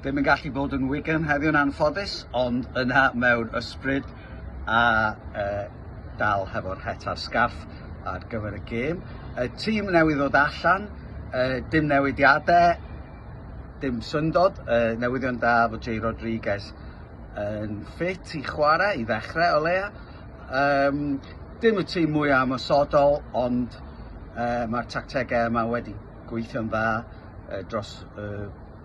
Ddim yn gallu bod yn Wigan heddiw'n anffodus, ond yna mewn ysbryd a e, dal hefo'r het a'r sgarff ar gyfer y gêm. Y tîm newydd ddod allan, e, dim newidiadau, dim syndod, e, newyddion da fod Jay Rodriguez yn ffit i chwarae, i ddechrau o leia. Um, dim y tîm mwyaf ymwysodol, ond e, mae'r tactegau yma wedi gweithio'n dda dros y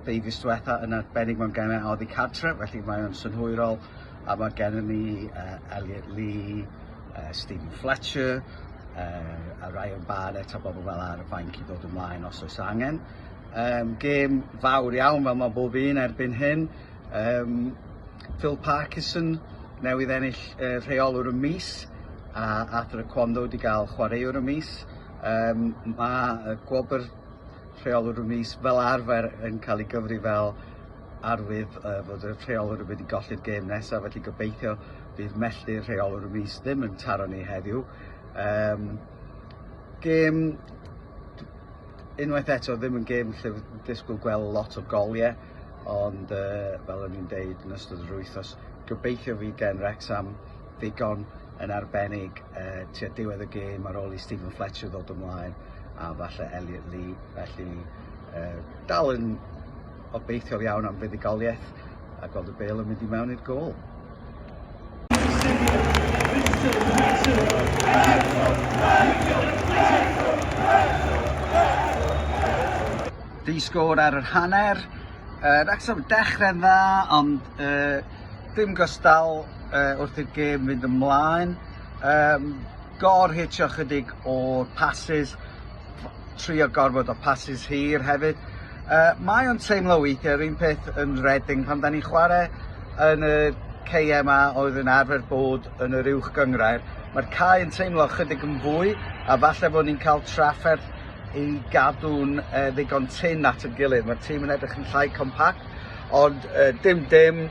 ddeufis diwetha' yn arbennig mewn gemau oddi cartre' felly mae o'n synhwyrol a mae gennym ni uh, Elliot Lee, uh, Stephen Fletcher uh, a Ryan Barnett a bobl fel ar y fainc i ddod ymlaen os oes angen. Um, gêm fawr iawn fel mae bob un erbyn hyn. Um, Phil Parkinson newydd ennill uh, rheolwr y mis a Arthur Aquando wedi cael chwaraewr y mis. Yym, mae y gwobr Rheolwr y Mis fel arfer yn cael ei gyfri fel arwydd uh, fod y rheolwr wedi golli'r gêm nesaf, felly gobeithio bydd melltu'r rheolwr y mis ddim yn taro ni heddiw. Um, gêm, unwaith eto, ddim yn gêm lle ddisgwyl gweld lot o goliau, ond uh, fel o'n i'n deud yn ystod yr wythnos, gobeithio fi gen Rexham ddigon yn arbennig yy tua diwedd y gêm ar ôl i Steven Fletcher ddod ymlaen a falle Elliot Lee felly yy dal yn obeithiol iawn am fuddugoliaeth a gweld y bel yn mynd i mewn i'r gol. Di sgôr ar yr hanner, uh, Wrexham yn dechrau'n dda ond uh, Dim gystal uh, wrth i'r gêm fynd ymlaen. Um, gor-hitio chydig o'r passes, trio gorfod o passes hir hefyd. Uh, mae o'n teimlo weithiau, yr un peth yn Reading, pan da ni'n chwarae yn y KMA oedd yn arfer bod yn yr uwch gyngrair, mae'r cae yn teimlo chydig yn fwy, a falle bod ni'n cael trafferth i gadw'n uh, ddigon tyn at y gilydd. Mae'r tîm yn edrych yn llai compact, Ond dim dim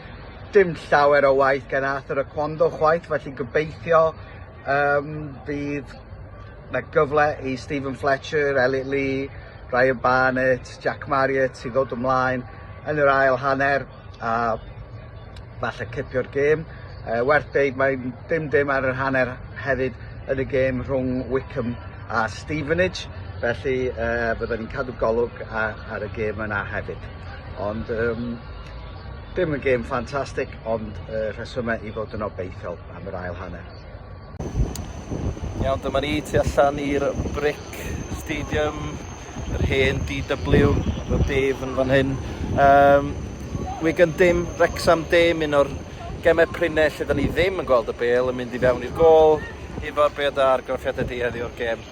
dim llawer o waith gan Arthur a Quando chwaith, felly gobeithio um, bydd na gyfle i Stephen Fletcher, Elliot Lee, Ryan Barnett, Jack Marriott i ddod ymlaen yn yr ail hanner a falle cipio'r gêm. Uh, werth deud mae dim dim ar yr hanner hefyd yn y gêm rhwng Wickham a Stevenage, felly uh, byddwn ni'n cadw golwg ar, ar y gêm yna hefyd. Ond yym dim yn gêm ffantastig ond yy rhesyme i fod yn obeithiol am yr ail hanner. Iawn dyma ni tu allan i'r Brick Stadium yr hen DW efo Dave yn fan hyn. Yym Wigan dim Wrecsam dim un o'r geme prine lle 'dan ni ddim yn gweld y bêl yn mynd i fewn i'r gôl. Ifor be' o'dd dy argraffiad di heddi o'r gêm?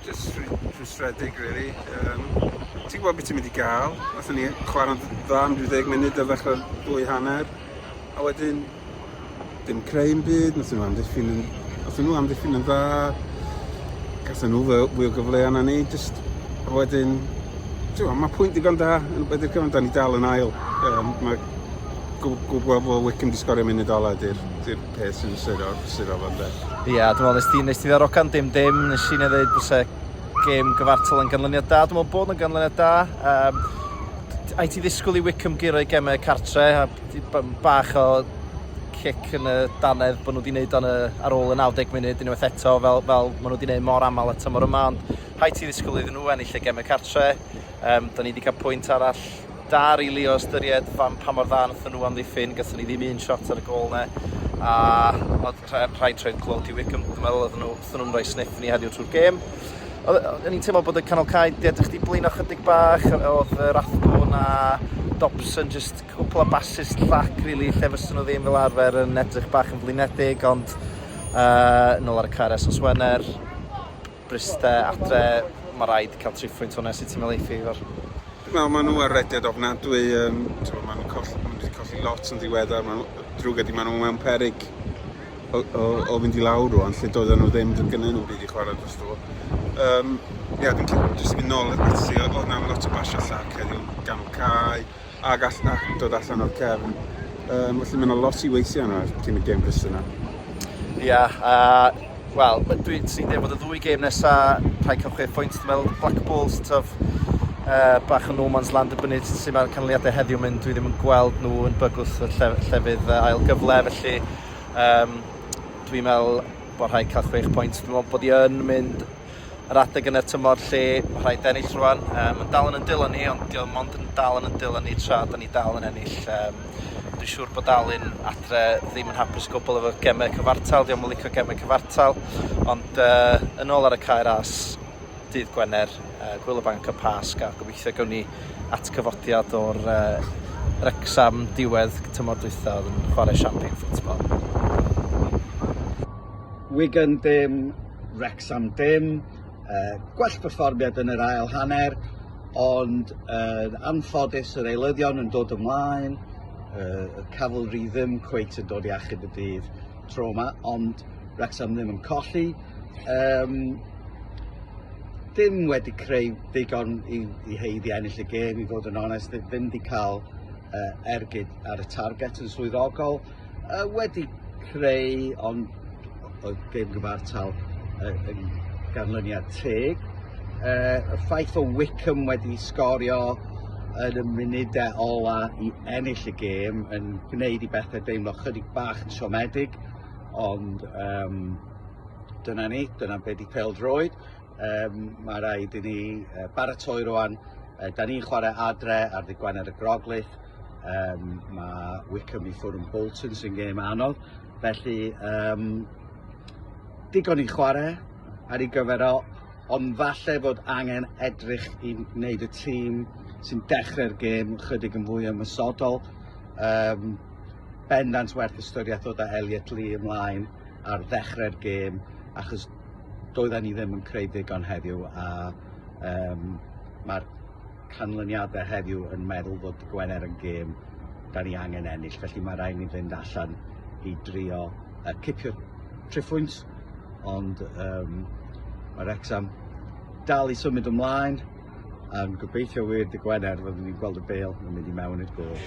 Jyst rhwystredig rili. Yym ti'n gwybod beth ti'n mynd i gael. Nathon ni chwarae'n dda am ryw ddeg munud ar ddechrau'r ddwy hanner a wedyn dim creu yn byd, nathon nhw amddiffyn yn nathon nhw amddiffyn yn dda. Gathen nhw fwy o gyfleoedd na ni jyst a wedyn ti'n mae pwynt digon da yn wedi'r cyfan da ni dal yn ail. Um, mae gwybod bod Wickham wedi sgorio munud ola ydy'r peth sy'n sero, sero fan de. Ie, yeah, dwi'n meddwl, nes ti, nes ti ddarogan dim dim, nes i neu ddweud bwse gêm gyfartal yn ganlyniad da, dwi'n meddwl bod yn ganlyniad da. Um, a i ti ddisgwyl i Wickham gyrra'i gemau cartre, a bach o cic yn y danedd bod nhw wedi gwneud o'n ar ôl y 90 munud unwaith eto fel, fel maen nhw wedi gwneud mor aml eto mor yma ond rhaid ti ddisgwyl iddyn nhw ennill y gemau cartre um, da ni wedi cael pwynt arall Da rili o ystyried fan pa mor dda nathon nhw amddiffyn gathon ni ddim un shot ar y gôl 'ne a odd rha- rhaid troi'r clo Duw Wickham dwi'n meddwl oddon nhw othon nhw'n roi sniff i ni heddiw trw'r gêm. Odd yy o'n i'n teimlo bod y canol cae 'di edrych 'di blino chydig bach yy odd yy Rathbone a Dobson jyst cwpwl o basys llac rili lle fyswn nhw ddim fel arfer yn edrych bach yn flinedig ond yy nôl ar y car esos Wener. Bryste, adre, ma raid cael triphwynt hwnna sut ti'n meddwl eiff Ifor? Wel, maen nhw ar rediad ofnadwy, um, maen nhw'n colli, maen nhw colli lot yn ddiweddar, maen nhw, drwg ydi, maen nhw mewn perig o, o, o fynd i lawr rwan, lle doedden nhw ddim, doedd gynnyn nhw byd i chwarae dros dro. Um, ia, dwi'n jyst mynd nôl at ti, oedd na lot o basio llac heddiw, ganol cae, a gall na dod allan o'r cefn. Um, felly mae'n lot i weithio yna cyn y gêm gris yna. Ia, yeah, uh, wel, dwi'n trin dweud bod y ddwy gêm nesaf rhai cael chwe pwynt, dwi'n meddwl Black Bulls, tyf, uh, bach yn no man's land y bynnyd sy'n mae'r canlyniadau heddiw mynd, dwi ddim yn gweld nhw yn bygwth y lle, llefydd uh, ail gyfle, felly um, dwi'n meddwl bod rhai cael chwech pwynt, dwi'n meddwl bod i yn mynd yr adeg yn y tymor lle ma' rhaid ennill rwan yym yn dal yn 'yn dwylo ni ond 'di o mond yn dal yn 'yn dwylo ni tra 'dan ni dal yn ennill yym dwi siŵr bod Alun adre ddim yn hapus o gwbwl efo geme cyfartal 'di o'm yn licio geme cyfartal ond yy yn ôl ar y cae ras dydd Gwener yy hwyl y banc y Pasg a gobeithio gewn ni atgyfodiad o'r yy Wrecsam diwedd tymor dwytha o'dd yn chware siampîn ffwtbol. Wigan ddim Wrecsam dim gwell perfformiad yn yr ail hanner ond yn anffodus yr eilyddion yn dod ymlaen, y Cavalry ddim cweit yn dod i achub y dydd tro yma ond Wrecsam ddim yn colli. Um, ddim wedi creu ddigon i, i heiddi ennill y gêm i fod yn onest, ddim wedi cael uh, ergyd ar y target yn swyddogol. Yy wedi creu ond oedd gêm gyfartal yy yn ganlyniad teg. Yy y ffaith o Wickham wedi sgorio yn y munudau ola i ennill y gêm yn gwneud i bethau deimlo chydig bach yn siomedig ond um, dyna ni, dyna be di pel droed. Um, mae rhaid i ni uh, baratoi rwan, uh, da ni'n chwarae adre ar ddigwannedd y Groglith, Um, mae Wickham i ffwrn Bolton sy'n gêm anodd, felly um, digon i chwarae ar ei gyfer o, ond falle bod angen edrych i wneud y tîm sy'n dechrau'r gêm chydig yn fwy ymwysodol. Um, bendant werth ystyriaeth o da Elliot Lee ymlaen ar ddechrau'r gêm, achos doedden ni ddim yn creu ddigon heddiw a um, mae'r canlyniadau heddiw yn meddwl bod Gwener yn gêm da ni angen ennill, felly mae rhaid ni fynd allan i drio uh, cipio triphwynt, ond um, mae Rexham dal i symud ymlaen, yn gobeithio wir dy Gwener fyddwn ni'n gweld y bel yn mynd i mewn i'r gol.